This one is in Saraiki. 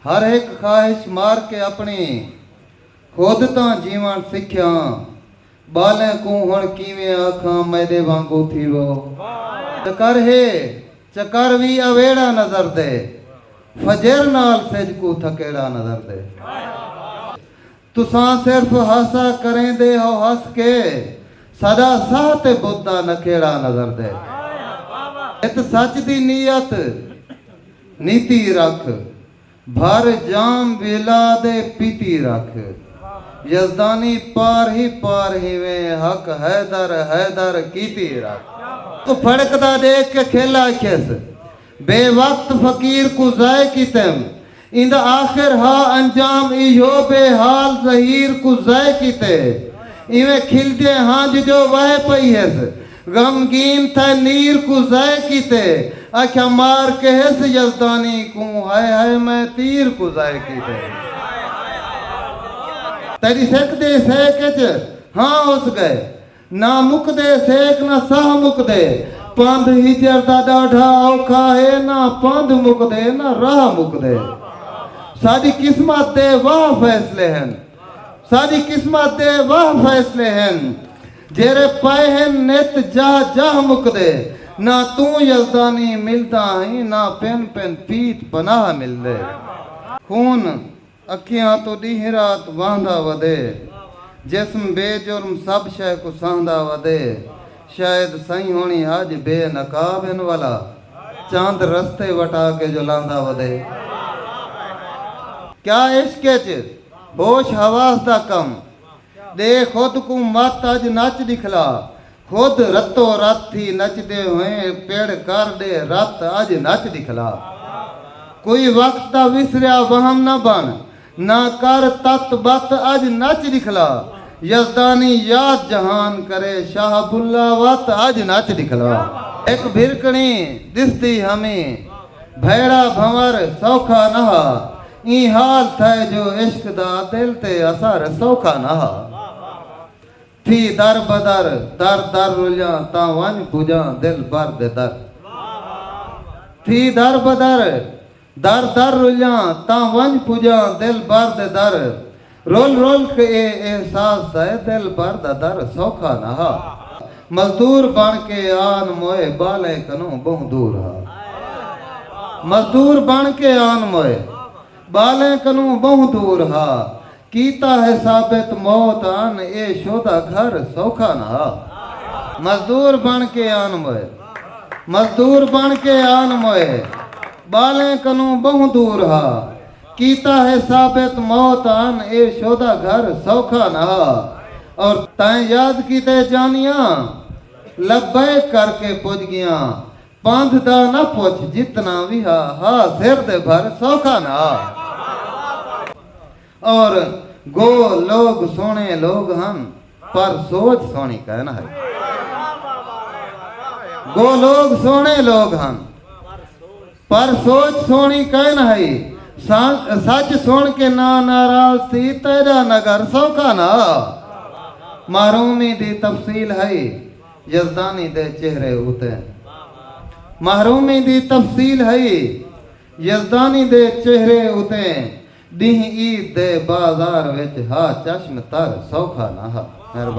ہر ہک خواہش مار کے اپݨی خود تاں جیوݨ سکھیاں ٻالیں کوں ہݨ کیویں آکھاں میݙے وانگوں تھیوو چکر ہے چکر وی اویڑا نظر دے فجر نال سجھ کوں تھکیڑا نظر دے۔ تساں صرف ہاسا کریندے ہو ہس کے ساڈا ساہ تے بت دا نکھیڑا نظر دے ات سچ دی نیت نیتی رکھ بھر جام ویلا دے پیتی رکھ یزدانی پار ہی پار ہیویں حق حیدر حیدر کیتی رکھ۔ کوں پھڑکدا ڈیکھ کے کھل آکھیس۔ بے وقت فقیر کوں ضائع کیتم۔ ایندا آخر ہا انجام ایہو بے حال ظہیر کوں ضائع کیتے۔ ایویں کھلدیں ہنج جو وہے پئی ہس۔ غمگین تھئے نیر کوں ضائع کیتے۔ اکھیاں مار کہس یزدانی کوں ہائے ہائے میں تیر کوں ضائع کیتے۔ تیڈی سک دے سیک اچ ہاں ہس گئے۔ نہ مکدے سیک نہ ساہ مکدے پندھ ہجر دا ݙاڈھا اوکھا ہے نہ پندھ مکدے نہ راہ مکدے ساݙی قسمت دے واہ فیصلے ہن ساݙی قسمت دے واہ فیصلے ہن جیرھے پئے ہن نت جاہ جاہ مکدے نہ توں یزدانی ملدا ہیں نہ پن پن پیت پناہ ملدے خون اکھیاں توں ݙینہہ رات وہندا ودے۔ جسم بے جرم سب شے کوں سہندا ودے۔ شاید سئیں ہوݨی اڄ بے نقاب ہن ولا چند رستے وٹا کے جو لہندا ودے۔ کیا عشق اچ ہوش حواس دا کم ݙے خود کوں مت اڄ نچ ݙکھلا خود رتو رت تھی نچدے ہوئیں پڑ کر ݙے رت اڄ نچ ݙکھلا کوئی وقت دا وسریا وہم نہ بݨ نہ کر تت بت اڄ نچ ݙکھلا یزدانی یاد جہان کرے شاہ بلا وت اڄ نچ ݙکھلا۔ ہک بھرکݨی ݙسدی ہمی بھئڑا بھنور سوکھا نہا۔ ایں حال تھئے جو عشق دا دل تے اثر سوکھا نہ ہا۔ تھی در بدر، در در رلیاں تاں ونڄ پڄاں دلبر دے در۔ تھی در بدر، در در رلیاں تاں ونڄ پڄاں دلبر دے در۔ رل رل ک اے احساس سئے دل بھر دا در سوکھا نہ ہا مزدور بݨ کے آن موئے ٻالیں کنوں ٻہوں دور ہا مزدور بݨ کے آن موئے ٻالیں کنوں ٻہوں دور ہا کیتا ہے ثابت موت ان اے شودا گھر سوکھا نہ ہا مزدور بݨ کے آن موئے مزدور بݨ کے آن موئے ٻالیں کنوں ٻہوں دور ہا۔ کیتا ہے ثابت موت آن اے شودا گھر سوکھا نہ ہا اور تائیں یاد کیتے جانیاں لبیک کر کے پج گیاں پندھ دا نہ پچھ جتنا وی ہا ہا سر دے بھر سوکھا نہ ہا اور گو لوگ سونے لوگ ہن پر سوچ سونی کائے نہ ہائی گو لوگ سونے لوگ ہن پر سوچ سوہݨی کائن ہئی۔ سچ سݨ کے نا ناراض تھی تیݙا نگر سوکھا نہ ہا۔ محرومی دی تفصیل ہئی یزدانی دے چہرے اتے۔ محرومی دی تفصیل ہئی یزدانی دے چہرے اتے ݙینہہ عید دے بازار وچ ہا چشم تر سوکھا نہ ہا۔